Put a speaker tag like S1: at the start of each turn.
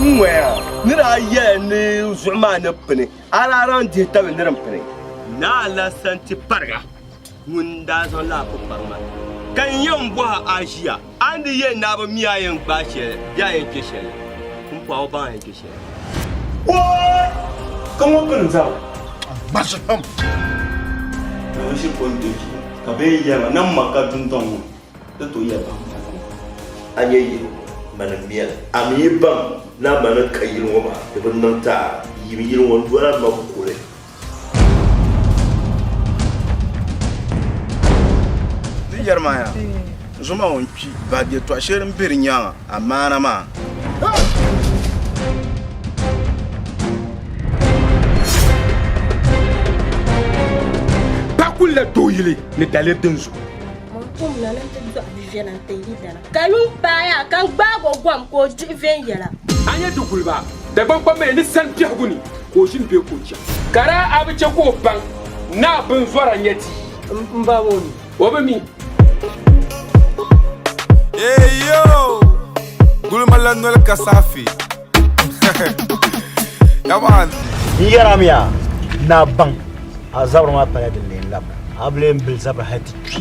S1: N-ŋɔya, ni daa yɛla ni zuɣu maa ni pini, a daa lan dihi tabili ni din pini. Naa Alasanti-Pariga ŋun daa zaŋ laa kpuɣi kpaŋ maa, ka n yɛn bɔhi a ʒiya, a ni di yɛn naai bi mi a yɛn gbaai shɛli bee a yɛn chɛ shɛli? Pumpɔɣu o baŋ a yɛn chɛ shɛli. Wooy! Ka ŋɔ pini zaŋ gbashi pam. Ŋɔ ʒiri pɔlitiki zuɣu ka bɛ yɛn yɛli ma ni m ma ka dundɔŋ ŋɔ. Di tooi ya baŋ ka niŋ ma a nyɛ yili ŋɔ mani m-miya li. A mi yi baŋ ni a ma ni ka yili ŋɔ maa, di bi niŋ ti a yim yili ŋɔ n-doli a ma kuli. Di yɛri ma ya, n zoma ŋɔ n-kpi bahi yɛtɔɣ shɛli din be di nyaaŋa a maana maa. Bɛ kuli la dooyili ni daliri din zo. Mɔni kom na ni ti dɔɣi bɛ viɛla n-ti yi dana. Ka yuŋ paai a ka gbaag o gɔm ka o dihi viɛnyɛla. A nya di guliba Dagbaŋ kpamba ya ni sani biɛhigu ni ka o ʒini bee ka o cham? Ka daa a bi chɛ ka o baŋ ni a binzɔra nya ti yi? M ba ŋɔ mi? O bi mi. Eeyo! Gulima la noli ka saɣifi. N yɛrimiya ni a baŋ a zabiri maa pala din lee lab a bi lee bili zabiri hali ti kpi.